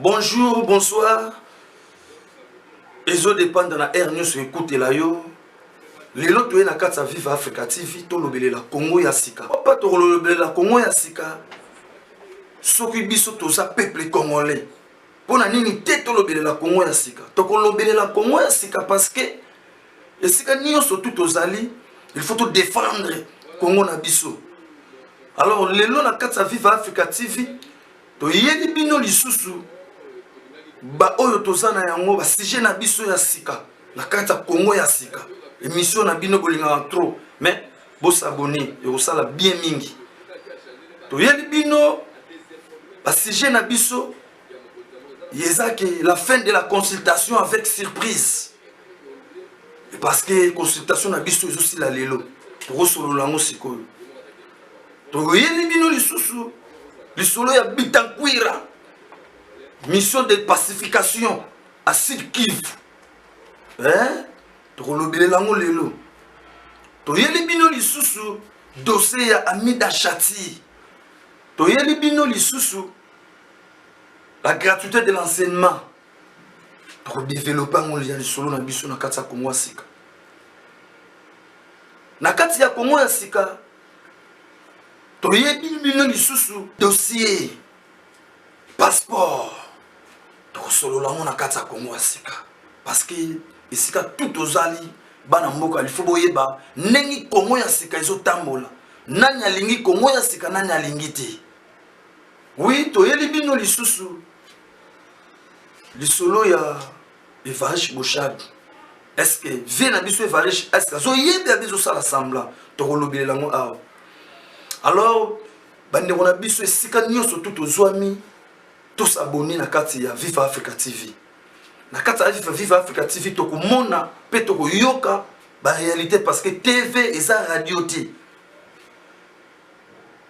bonjour bonsoir ezo dépendre na aire nyonso ekutela yo lelo toye na kati ya vive africa tv tolobelela congo ya sika papa tokolobelela congo ya sika soki biso toza peuple congolais mpo na nini te tolobelela congo ya sika tokolobelela congo ya sika parce que esika nyonso tu tozali il faut to défendre congo na biso alors lelo na kati ya viva africa tv toyeli bino lisusu baoyo toza na yango basujet na biso ya sika na kati ya congo ya sika émission na bino bolingaka trop mais bosabone ekosala bien mingi toyeli bino basujet na biso eza ke la fin de la consultation avec surprise parce que consultation na biso ezosila lelo tokosolola yango sikoyo toyeli bino lisusu lisolo ya bitankwira mission de pacification a sud kive eh? tokolobelela yango lelo toyeli bino lisusu dossier ya amida chati toyeli bino lisusu la gratuité de l'enseignement tokodevelope yango ya lisolo na biso na kati ya kongo ya sika na kati ya kongo ya sika toyebi bino lisusu dossier passeport tokosolola yango na kati ya kongo ya sika parceke esika tu tozali bana mboka lifo boyeba ndenge kongo ya sika ezotambola nani alingi kongo ya sika nani alingi te Oui, toyeli bino lisusu lisolo ya Evarish Boshadu. Est-ce que vie na biso Evarish, est-ce que azoyebela biso sala semblant tokolobelela yango awa. Alors bandeko na biso esika nyonso tu tozwami tosabone na kati ya Viva Africa TV. Na kati ya Viva Africa TV tokomona mpe tokoyoka barealité parce que TV eza radio te.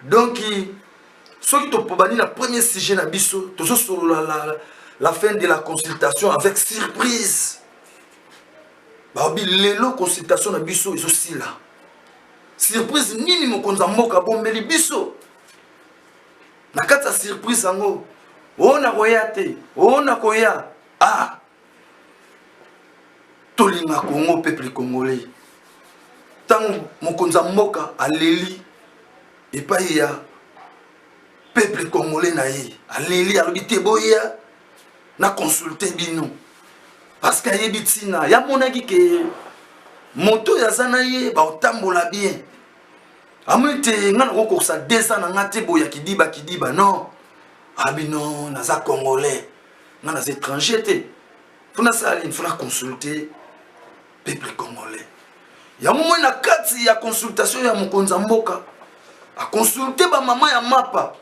donc soki topobani na premier sujet na biso tozosolola la, la, la fin de la consultation avec surprise baobi lelo consultation na biso ezosila surprise nini mokonzi ya mboka abombeli biso na kati ya surprise yango ona koya te ona koya ah tolinga congo peuple congolais ntango mokonzi ya mboka aleli epai ya peuple congolais na ye aleli alobi te boya na consulte bino parce que ayebi ntina yamonaki ke moto oyo aza na ye baotambola bien amoni te ngai nakokokisa 200 na ngai te boya kidiba kidiba non abi non naza congolais nga naza étranger te mpo nasala nini mpo na consulte peuple congolais yango moi na kati ya consultation ya mokonzi ya mboka aconsulte bamama ya mapa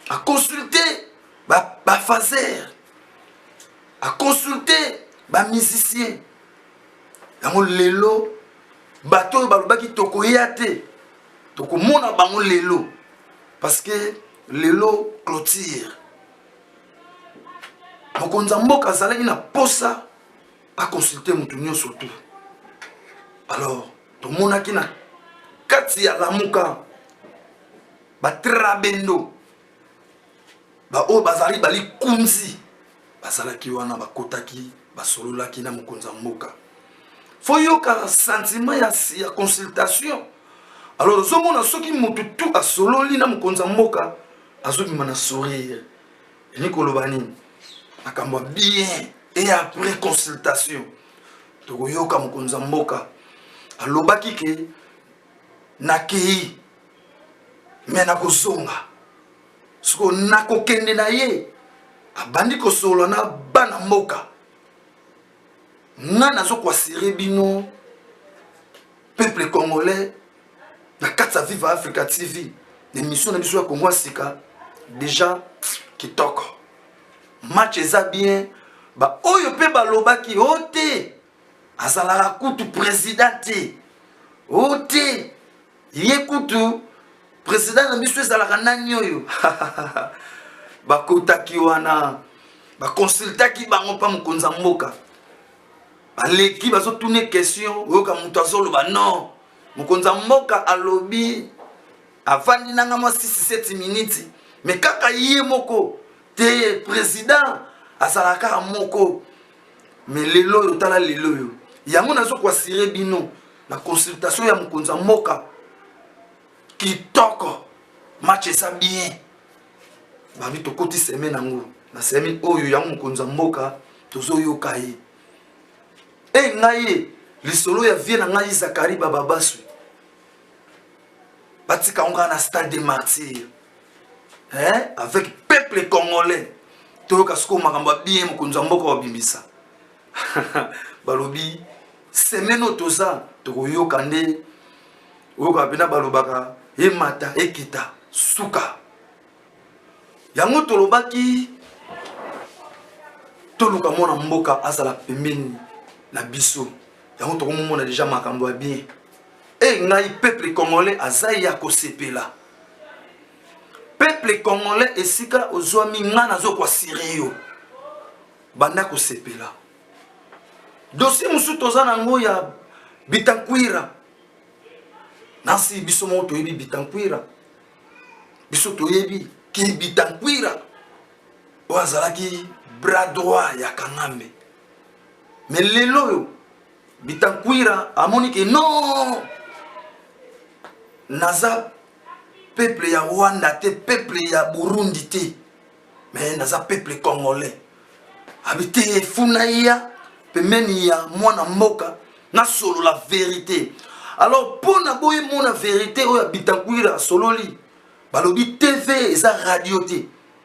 aconsulte bafaser ba aconsulte bamusicien yango lelo bato oyo balobaki tokoya te tokomona bango lelo parce que lelo clôture mokonzi ya mboka azalaki na posa aconsulte moto nyonso tu alors tomonaki na kati ya lamuka batrabendo baoyo bazali balikunzi bazalaki wana bakotaki basololaki na mokonzi ya mboka fo yoka sentiment ya, ya consultation alors ozomona soki motu tu asololi na mokonzi ya mboka azobima na sourire elingi koloba nini makambo ya bien e après consultation tokoyoka mokonzi ya mboka alobaki ke nakei me nakozonga soko nakokende na ye abandi kosolola na bana mboka nga nazo kuasire bino peuple congolais na kati ya viva africa tv na émission na biso ya kongo ya sika deja kitoko match eza bien baoyo mpe balobaki o oh, te azalaka kutu président te o oh, te ye kutu president na biso ezalaka nani oyo bakotaki wana bakonsultaki bango mpa mokonzi ya mboka baleki bazotuna question oyoka moto azoloba non mokonzi ya mboka alobi avandi nanga mwa 67 miniti me kaka ye moko te president azalaka kaka moko me lelo oyo tala lelo oyo yango nazo koasire bino na consultation ya mokonzi ya mboka kitoko match eza bien babi tokoti seme nango na semi oyo yango mokonzi ya mboka tozoyoka ye e ngai ye lisolo ya vie na ngai zakari bababaswi batika yango kaka na stade de martyr eh? avec peuple congolais toyoka sikoyo makambo ya bien mokonzi ya mboka babimisa balobi semene oyo toza tokoyoka nde oyoka mpena balobaka emata ekita suka yango tolobaki toluka mwana mboka azala pembeni na biso yango tokomomona deja makambo ya bien e ngai peuple congolais aza ya kosepela peuple congolais esika ozwami ngai nazokwa siri yo banda kosepela dosie mosusu toza na yango ya bitankwira nasi biso moko toyebi bitankwira biso toyebi ki bitankwira oyo azalaki bras droit ya kangambe me lelo oyo bitankwira amoni ke non naza peuple ya rwanda te peuple ya burundi te mais naza peuple congolais abi te efuna ya pembeni ya mwana mboka nasolola verité alors mpo na boye mona verité oyo ya bitankwira asololi balobi tv eza radio te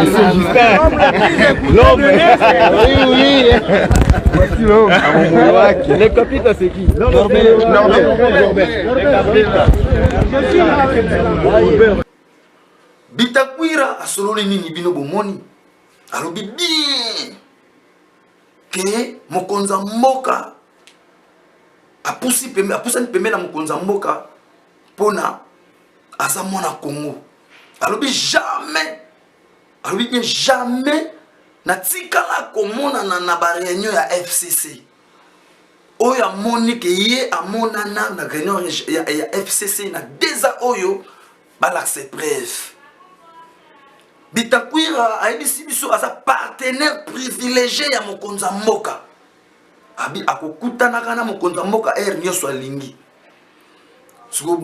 Monsieur Justin. L'homme. Oui, oui. Voici l'homme. Le capitaine, c'est qui Norbert. Norbert. Norbert. Bitakwira asololi nini bino bomoni alobi bien ke mokonzi ya mboka apusani pembe na mokonzi ya mboka mpo na aza mwana congo alobi jamais alobi bien jamais natikala komonana na bareunion ya fcc oyo amoni ke ye amonana na reunion ya, ya, ya fcc na deza oyo balakisa epreuve bitakwira ayebisi biso aza partenaire privilégié ya mokonzi ya mboka abi akokutanaka na mokonzi ya mboka ere nyonso alingi soko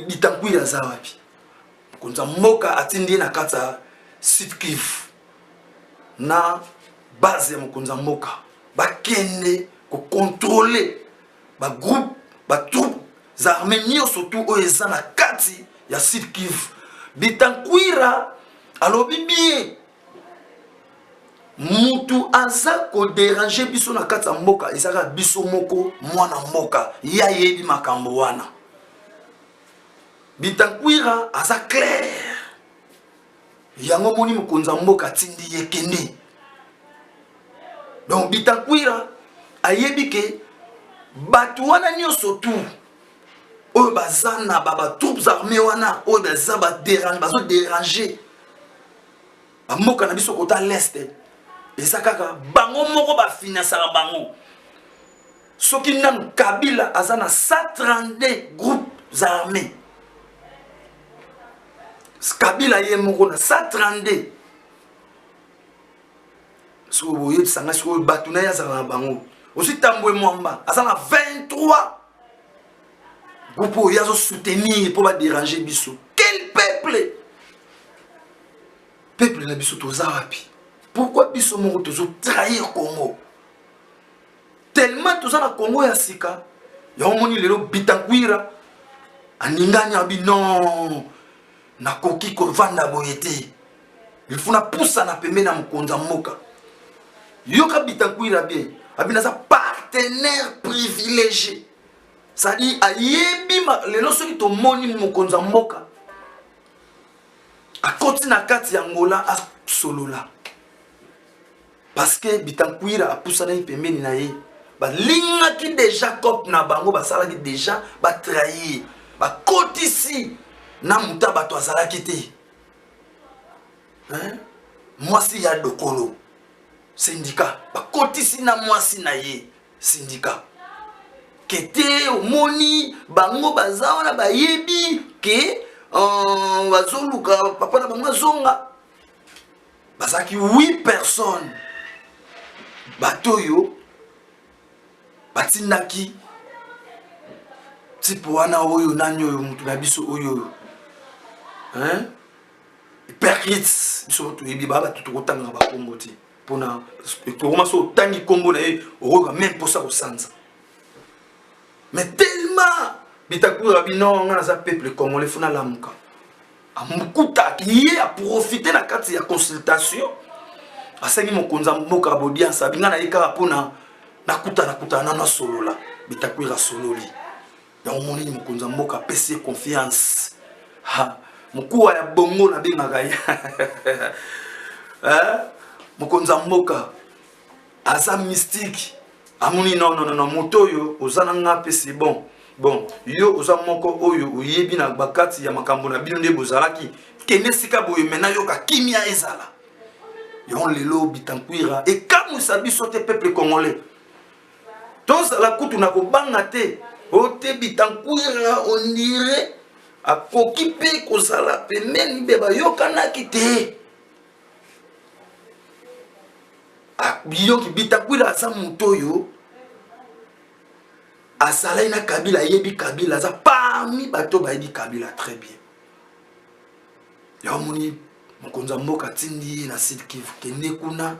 litankwiri aza wapi mokonzi ya mboka atindi ye na kati ya sud kivu na base ya mokonzi ya mboka bakende kokontrole bagroupe batroupe za arme nyonso tu oyo eza na kati ya sud kivu bitankwira alobi bien mutu aza koderange biso na kati ya mboka ezaka biso moko mwana mboka ye ayebi makambo wana bitankwira aza claire yango omoni mokonzi ya mboka atindi ye kende donc bitankwira ayebi ke bato wana nyonso tu oyo baza na batroupes armées wana oyo baza baderange bazoderange bamboka na biso kota leste eza kaka bango moko bafinansaka bango soki nanu kabila aza na 132 groupes armés kabila ye moko na 132 soki boyebisa ngai sikoyo bato na ye azalaka na bango ozwi tambwe mwamba aza na 23 groupe oyo azo soutenir mpo badérange biso quel peuple peuple na biso toza wapi pourquoi biso moko tozo trahir congo tellement toza na congo ya sika yango moni lelo bitankwira aningani abi non nakoki kovanda boye te ilfo napusana pembeni ya mokonzi ya mboka yoka bitankwira bien abi naza partenaire privilégié sadi ayebi lelo soki tomoni mokonzi ya mboka akoti na kati ya ngola asolola parceke bitankwira apusanaki pembeni na ye balingaki deja cope na bango basalaki deja batrahir bakotisi na muta bato azalaki te mwasi ya dokolo sindika bakotisi na mwasi na ye syndicat kete omoni bango baza wana bayebi ke euh, bazoluka papa na bango azonga bazalaki 8 personnes bato oyo batindaki tipe wana oyo nani oyo moto na biso oyo percrits biso toyebi ba bato tokotangaka bakombo te pona tokoma so otangi nkombo na ye okoyoka meme mposa kosanza mais tellement bitakura bino nga naza peuple congolais fo nalamuka amukuta ye aprofite na kati ya consultation asengi mokonzi ya mboka ya bodianse abinga na ye kaka mpona nakutanakutana nano asolola bitakwira asololi yango monini mokonzi ya mboka apesi ye confiance mokuwa ya bongo nabengaka ye eh? mokonzi ya mboka aza mystique amoni nononono moto oyo oza na nga mpe se bon bon yo oza moko oyo oyebi na bakati ya makambo na bino nde bozalaki kende esika boye me nayoka kimia ezala yango lelo bitankwira ekamwisa biso te peuple congolais tozala kutu na kobanga te ote bitankwira ondire akoki mpe kozala pembeni mpe bayokanaki te ah, biyoki bitakwira aza moto oyo azalaki na kabila ayebi kabila aza parmi bato bayebi kabila très bien yango omoni mokonzi ya mboka atindi ye na sud kivu kende kuna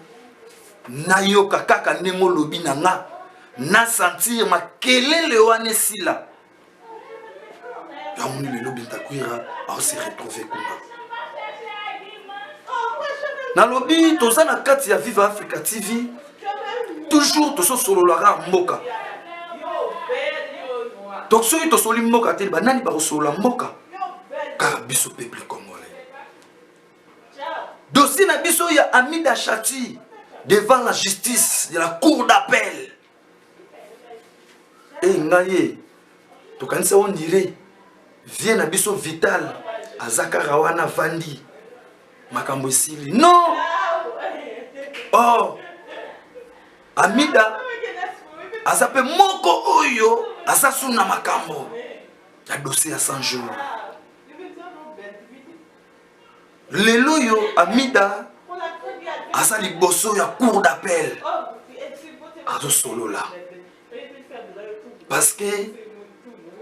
nayoka kaka ndenge olobi na nga na sentir makelele wana esila yango nini lelo bintakwira aose retrouve kuna nalobi toza na kati ya viva africa tv toujours tososololaka mboka donc soki tosoli mboka te banani bakosolola mboka car biso peuple congolais dossier na biso ya amida chati devant la justice de la cour d'appel e eh, ngai ye tokanisa on dirait vie na biso vital aza kaka wana vandi makambo esili non oh amida aza mpe moko oyo aza suna makambo na dossier ya 100 jours lelo oyo amida aza liboso ya cour d'appel azosolola parce que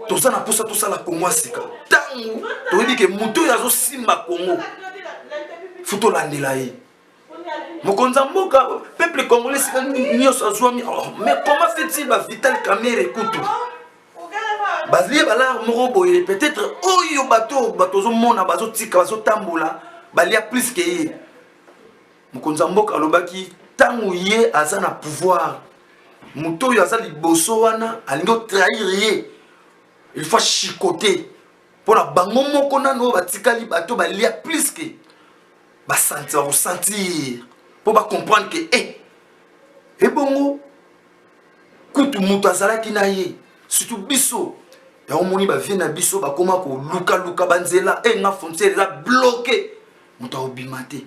toza na mposa tosala kongo ya sika ntango toyebi ke moto oyo azosimba kongo fo tolandela ye mokonzi ya mboka peuple congolais sika nyonso azwami oh, mais comment fait-il ba vital kamere kutu balie balare moko boye peut-être oyo bato bato ozomona bazotika bazotambola balia plus ke ye mokonzi ya mboka alobaki ntango ye aza na pouvoir moto oyo aza liboso wana alingi otrahir ye il faut chicote mpo na bango moko nano oyo batikali bato balia plus ke basanti bakosentir mpo bacomprendre ke e eh, ebongo kutu moto azalaki na ye surtout biso yango omoni bavie na biso bakoma kolukaluka banzela e eh, nga frontière eza bloke moto akobima te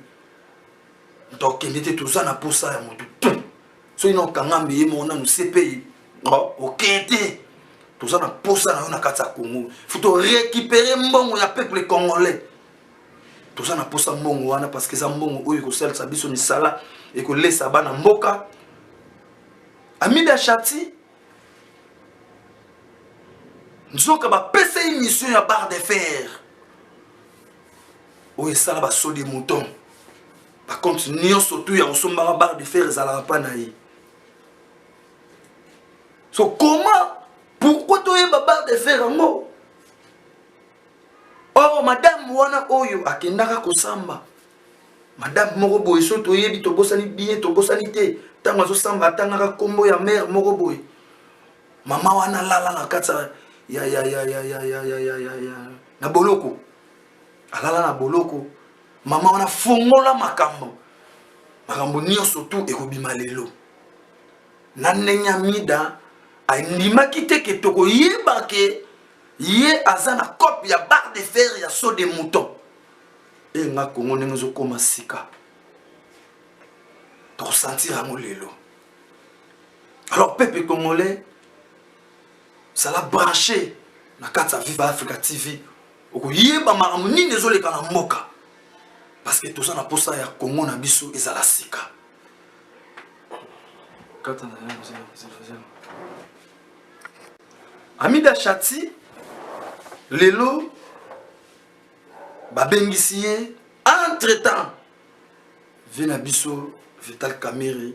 moto akokende te toza na mposa ya moto tu soki na okangami ye moko nanu cpi oh, okeye te toza na mposa na yo na kati ya congo fo torécupere mbongo ya peuple congolais toza na posa mbongo wana parce que eza mbongo oyo ekosalisa biso misala ekolesa bana mboka amida chati nzoka bapesa ye mission ya barre de fer oyo esala basodi mouton bacompte nyonso tu ya kosombaka barre de fer ezalaka mpa na ye so comment pourquoi toyeba barre de fer yango or madame wana oyo akendaka kosamba madame moko boye so toyebi tobosani bien tobosani te ntango azosamba atangaka nkombo ya mare moko boye mama wana alala na kati ya, ya, ya, ya, ya, ya, ya, ya, ya, ya. na boloko alala na boloko mama wana fongola makambo makambo nyonso tu ekobima lelo na ndenge ya mida andimaki te ke tokoyeba ke ye aza na cope ya barre de fer ya saut de mouton e nga kongo ndenge ezokoma sika tokosentir yango lelo alors peuple congolais zala branche na kati ya viva africa tv okoyeba makambo nini ezoleka na mboka parce que toza na mposa ya kongo na biso ezala sika kata na yango Amida Shati lelo babengisi ye entre temps vie na biso vital kamere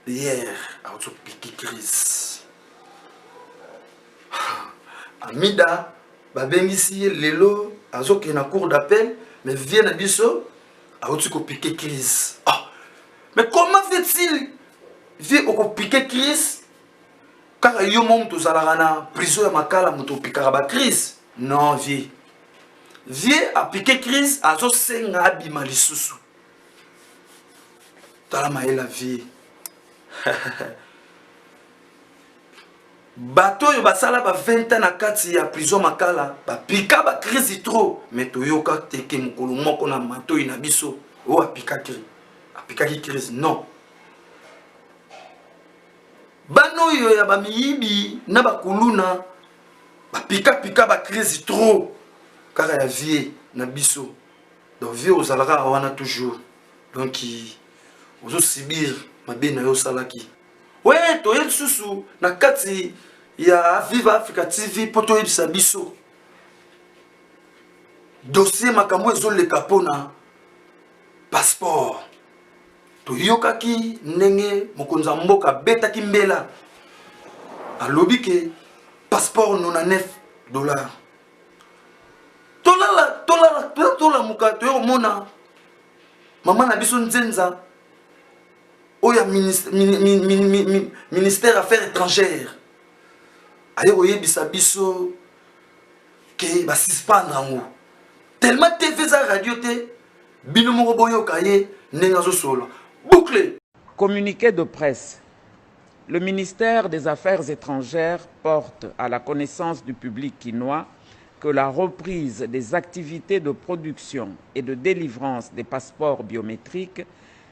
hier auti piki crise amida babengisi ye lelo azokende na cour d'appel mais vie na biso auti kopike crise ah. mais comment fait-il vie okopike crise kaka yo mo moto ozalaka na prison ya makala moto opikaka bacrise non vie vie apike crise azosenga abima lisusu tala mayela vie Bato oyo basala ba 20 ans na kati ya prison Makala bapika ba crise trop, mais toyoka te ke mokolo moko na matoyi na biso oyo apikaki apikaki crise non. Bana oyo ya bamiyibi na bakuluna bapikapika ba crise trop kaka ya vie na biso, donc vie ozalaka wana toujours, donc ozo subir mabe na yo osalaki. Oui, toye lisusu na kati ya Viva Africa TV mpo toyebisa biso dossier makambo ezoleka mpona passeport. Toyokaki ndenge mokonzi ya mboka abetaki mbela alobi ke passeport 99 dollars. Tolala tolala tolamuka toye komona mama na biso nzenza oyo ya ministère ya affaires étrangères aye koyebisa biso ke basuspendre yango tellement tv eza radio te bino moko boyoka ye ndenge azosolola boucle communiqué de presse le ministère des affaires étrangères porte à la connaissance du public kinois que la reprise des activités de production et de délivrance des passeports biométriques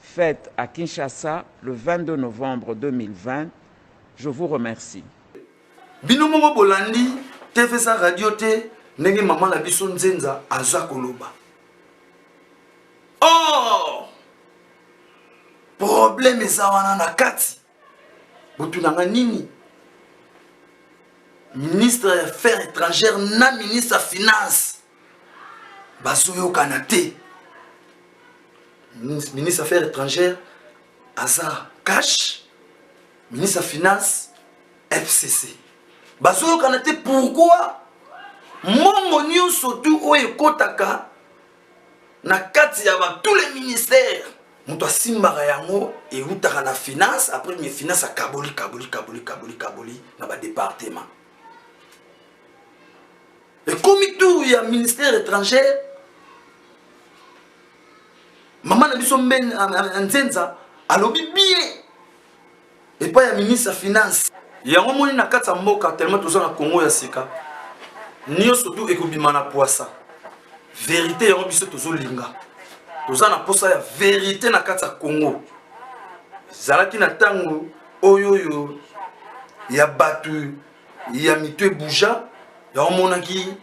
fete à Kinshasa le 22 novembre 2020 je vous remercie. Bino moko bolandi TV za radio te ndenge mama na biso nzenza aza koloba oh problème eza wana na kati botunanga nini ministre ya affaire étrangère na ministre ya finance bazoyokana te ministre affaire étrangère aza cash ministre ya finance fcc bazoyokana te pourquoi mbongo nyonso tu oyo ekotaka na kati ya ba tous les ministères moto asimbaka yango eutaka na finance après mais finance akaboli kaboli kaboli kaboli kaboli na badepartement ekomi tour ya ministère étranger mama na biso mbe nzenza alobi bien epai ya ministre ya finance yango moni na kati ya mboka tellement toza na congo ya sika nyonso tu ekobima na pwasa verite yango biso tozolinga toza na mposa ya verite na kati ya congo ezalaki na ntango oyo oyo ya bato ya mitu ebuja yango monaki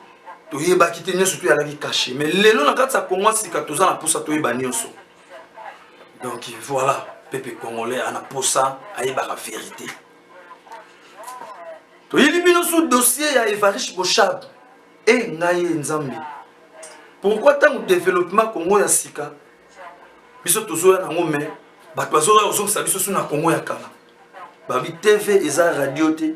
toyebaki te nyonso toyalaki kashe me lelo na kati ya congo ya sika toza na mposa toyeba nyonso donc voilà pepe congolais ana posa ayebaka verité toyebi bino sous dossier ya evarish boshab e eh, ngai nzambe pourquoi ntango développement congo ya sika biso tozoya nango mai bato bazoya kozongisa biso su na congo ya kala babi tv eza radio te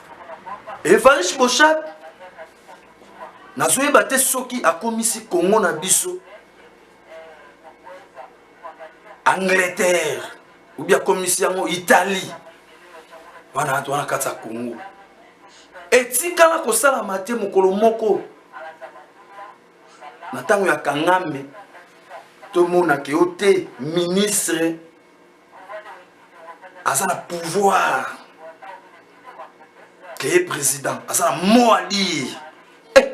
evarish boshab nazoyeba te soki akomisi kongo na biso angleterre obi akomisi yango italie wana bato wana kati ya kongo etikala kosalama te mokolo moko na ntango ya kangame tomonake yo te ministre aza na pouvoir keye président aza na mot à dire eh,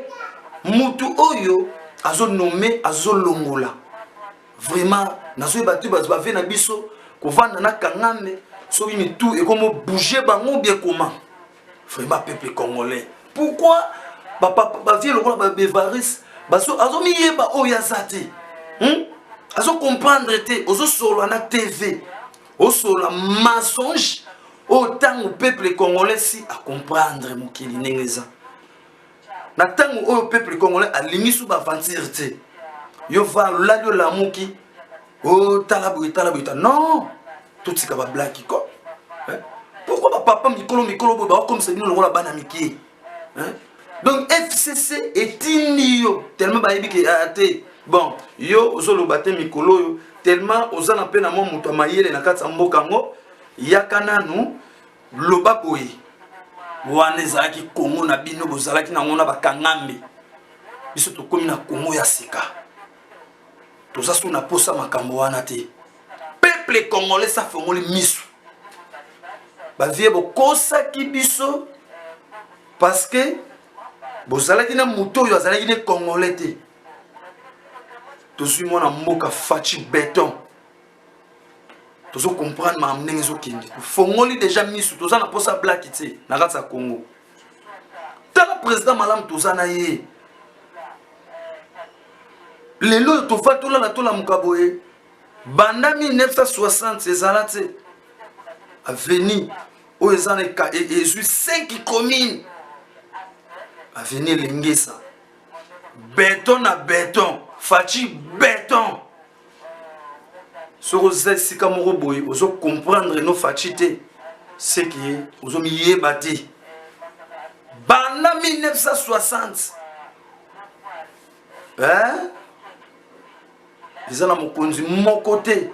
mutu oyo azonome azolongola vraiment nazoyeba te bato bave na biso kovanda na kangame soki mitu ekomobouge bango bie koma vraiment peuple congolais pourquoi bavie lokola babevaris azomiyeba oyo aza te hmm? azocomprendre te ozosolola na tv osolola mensonge oyo ntango peuple congolais si acomprendre mokili ndenge eza na tango oyo peuple congolais alingi su ba aventure te yo va olali olamuki otala oh, boye tala boye ta non totika ba black ko pourquoi ba papa mikolo mikolo boye baokomisa bino lokola bana mikie donc fcc etindi yo tellement bayebi ke ah, te bon yo ozoloba te mikolo oyo tellement oza na mpe na mwa moto ya mayele na kati ya mboka yango yaka nanu loba boye wana ezalaki kongo na bino bozalaki nango na bakangambe biso tokomi na kongo ya sika toza so na posa makambo wana te peuple congolais safongoli misu bavie bokosaki biso parce que bozalaki na moto oyo azalaki ne congolais te tozwi mwana mboka faci beton tozo comprendre makambo ndenge ezokende tofongoli deja misu toza na mposa blaki te na kati ya congo tala président malamu toza na ye lelo oyo tofai tolala tolamuka boye banda 1960 ezala te aveni oyo eza na e, e, ezwi 5 commune aveni elengesa beton na beton faci beton soki oza esika moko boye ozo comprendre no faci te seke ozomiyeba te banda 1960 eh? eza na mokonzi moko te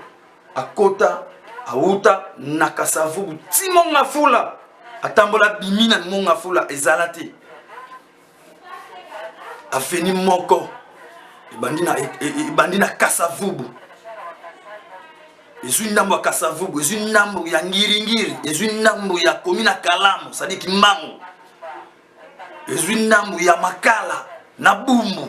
akota awuta na kasavubu ti mongafula atambola bimi na mongafula ezala te aveni moko ebandi na, e, e, e, ebandi na kasavubu ezwi ndambo ya kasavubu ezwi ndambo ya ngiringiri ezwi ndambo ya komi na kalamu sadi kimbangu ezwi ndambo ya makala na bumbu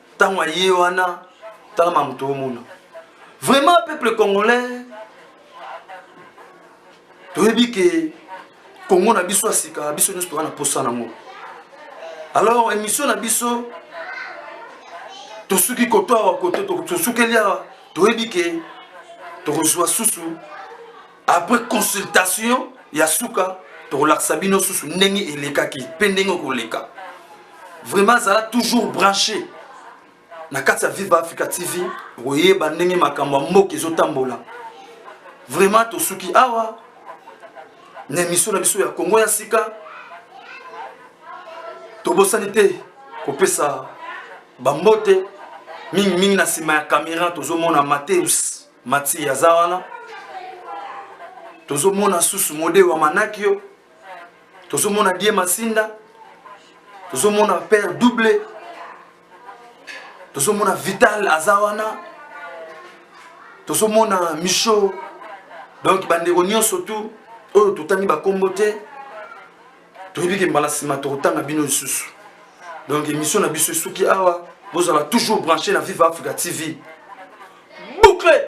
ntango aye wana tala ma moto omona vraiment peuple congolais toyebi ke kongo na biso ya sika biso nyonso toza na mposa nango alors émission na biso tosuki koto awa koto tosukeli awa toyebi ke tokozwa susu après consultation ya suka tokolakisa bino susu ndenge elekaki mpe ndenge okoleka vraiment azala toujours branché na kati ya viva africa tv okoyeba ndenge makambo ya mboka ezotambola vraiment tosuki awa na emission na biso ya kongo ya sika tobosani te kopesa bambote mingimingi na nsima ya kamera tozomona mateus Mati aza wana tozomona susu mode wa manakio tozomona die masinda tozomona père double tozomona vital aza wana tozomona micho donc bandeko nyonso tu oyo totangi bakombo te toyebi ke mbala nsima tokotanga bino lisusu donc émission na biso esuki awa bozala toujours branché na vive africa tv boucle